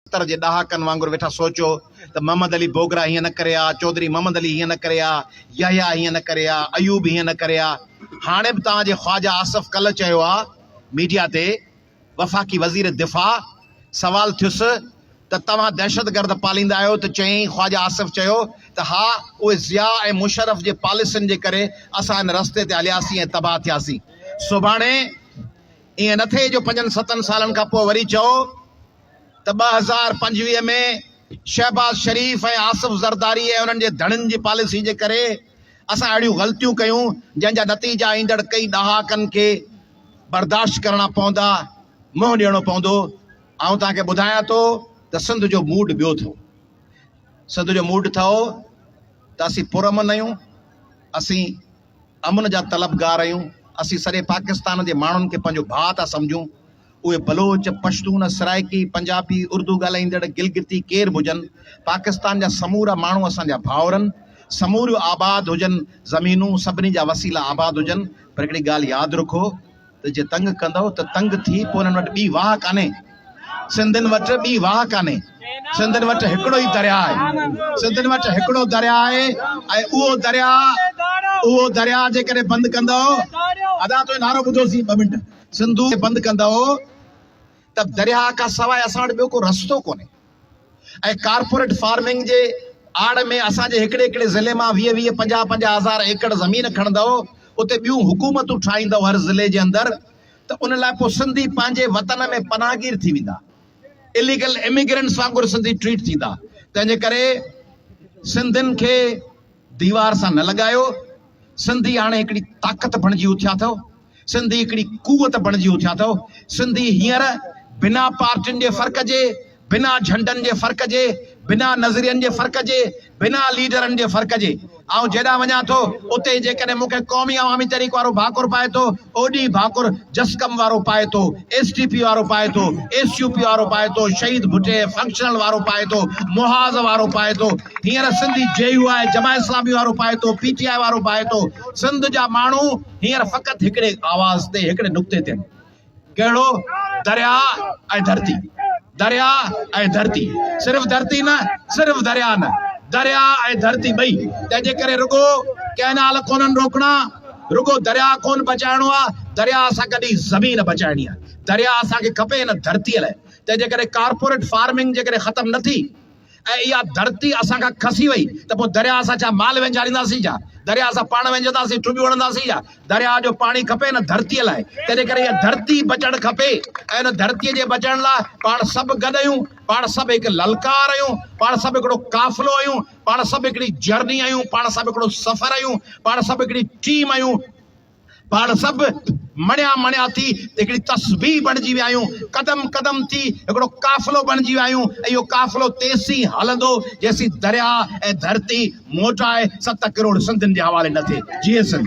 ستر جي ڏهاڪن وانگر ويٺا سوچو ته محمد علي بوگرا هيئن نه ڪري ها، چوڌري محمد علي هيئن نه ڪري ها، يحيٰ هيئن نه ڪري ها، ايوب هيئن نه ڪري ها. هاڻي به توهان جي خواجه آصف ڪلهه چيو ها ميڊيا تي وفاقي وزير دفاع سوال ٿيس ته توهان دهشتگرد پاليندا آهيو ته چيائين خواجه آصف چيو ته ها اهي ضياء ۽ مشرف جي پاليسين جي ڪري اسان ان رستي تي هلياسين ۽ تباهه ٿياسين سڀاڻي ائين نه ٿئي جو پنجن ستن سالن کان پوء وري چئو ته ٻه هزار پنجويهه ۾ شهباز شريف ۽ آصف زرداري ۽ انهن جي ڌڻين جي پاليسي جي ڪري اسان اهڙيون غلطيون ڪيون جنهن جا نتيجا ايندڙ ڪئي ڏهاڪن کي برداشت ڪرڻا پوندا، منهن ڏيڻو پوندو. آئون توهان کي ٻڌايان ٿو ته سنڌ جو موڊ ٻيو ٿئو. سنڌ جو موڊ ٿئو ته اسين پرامن آهيون، اسين امن جا طلبگار آهيون، اسين سڄي پاڪستان جي ماڻهن کي پنهنجو ڀاء ٿا سمجهون، اهي بلوچ، پشتون، سرائڪي، پنجابي، اردو ڳالهائيندڙ، گلگتي ڪير به هجن، پاڪستان جا سمورا ماڻهو اسان جا ڀائورن، سموريون آباد هجن زمينون، سڀني جا وسيلا آباد هجن، پر هڪڙي ڳالهه ياد رکو ته جي تنگ ڪندؤ ته تنگ ٿي پوء انهن وٽ ٻي واهه ڪانهي، سنڌين وٽ ٻي واهه ڪانهي، سنڌين وٽ هڪڙو ئي درياء آهي، سنڌين وٽ هڪڙو درياء آهي ۽ اهو درياء اهو درياء جيڪڏهن بند ڪندؤ. ادا تنهنجو نعرو ٻڌوسين ٻه منٽ. سنڌو کي بند ڪندؤ ته درياهه کان سواء اسان وٽ ٻيو ڪو رستو ڪونهي ۽ ڪارپوريٽ فارمنگ جي آڙ ۾ اسان جي هڪڙي هڪڙي ضلعي مان ويهه ويهه پنجاهه پنجاهه هزار ايڪڙ زمين کڻندؤ اتي ٻيون حڪومتون ٺاهيندؤ هر ضلعي جي اندر ته ان لاء پوء سنڌي پنهنجي وطن ۾ پناهگير ٿي ويندا اليگل اميگرنٽس وانگر سنڌي ٽريٽ ٿيندا تنهنجي ڪري سنڌين کي ديوار سان نه لڳايو، سنڌي هاڻي هڪڙي طاقت بڻجي اٿيا اٿو، سنڌي هڪڙي قوت بڻجي اٿيا اٿو، سنڌي هينئر بنا پارٽين جي فرق جي، بنا جهنڊن جي فرق جي، بنا نظرين جي فرق جي، بنا ليڊرن جي فرق جي آئون جيڏانهن وڃان ٿو اتي ئي جيڪڏهن مون کي قومي عوامي تحريڪ وارو ڀاڪر پائي ٿو اوڏي ئي ڀاڪر جسقم وارو پائي ٿو، ايس ٽي پي وارو پائي ٿو، ايس يو پي وارو پائي ٿو، شهيد ڀٽي فنڪشنل وارو پائي ٿو، محاذ وارو پائي ٿو، هينئر سنڌي جي يو آء جماعت اسلامي وارو پائي ٿو، پي ٽي آء وارو پائي ٿو، سنڌ جا ماڻهو هينئر فقط هڪڙي آواز تي هڪڙي نقطي تي آهن، ڪهڙو؟ درياهه ۽ ڌرتي. درياء ۽ ڌرتي، صرف ڌرتي نه، صرف درياء نه، درياء ۽ ڌرتي ٻئي، تنهن جي ڪري رڳو ڪئنال ڪونهن روڪڻا، رڳو درياء ڪونهن بچائڻو آهي، درياء سان گڏ ئي زمين بچائڻي آهي، درياء اسان کي کپي هن ڌرتي لاء، تنهن جي ڪري ڪارپوريٽ فارمنگ جيڪڏهن ختم نه ٿي. ۽ اها ڌرتي اسان کان کسي وئي ته پوء درياء اسان ڇا مال وهنجارينداسين ڇا؟ درياء اسان پاڻ وهنجنداسين، ٽٻيون هڻنداسين ڇا؟ درياء جو پاڻي کپي هن ڌرتيء لاء، تنهنجي ڪري اها ڌرتي بچڻ کپي ۽ ان ڌرتيء جي بچڻ لاء پاڻ سڀ گڏ آهيون، پاڻ سڀ هڪ للڪار آهيون، پاڻ سڀ هڪڙو قافلو آهيون، پاڻ سڀ هڪڙي جرني آهيون، پاڻ سڀ هڪڙو سفر آهيون، پاڻ سڀ هڪڙي ٽيم آهيون. پاڻ سڀ مڻيا مڻيا ٿي هڪڙي تسبيح بڻجي ويا آهيون، قدم قدم ٿي هڪڙو قافلو بڻجي ويا آهيون ۽ اهو قافلو تيسين هلندو جيسين درياهه ۽ ڌرتي موٽائي ست ڪروڙ سنڌين جي حوالي نه ٿئي. جيئي سنڌ.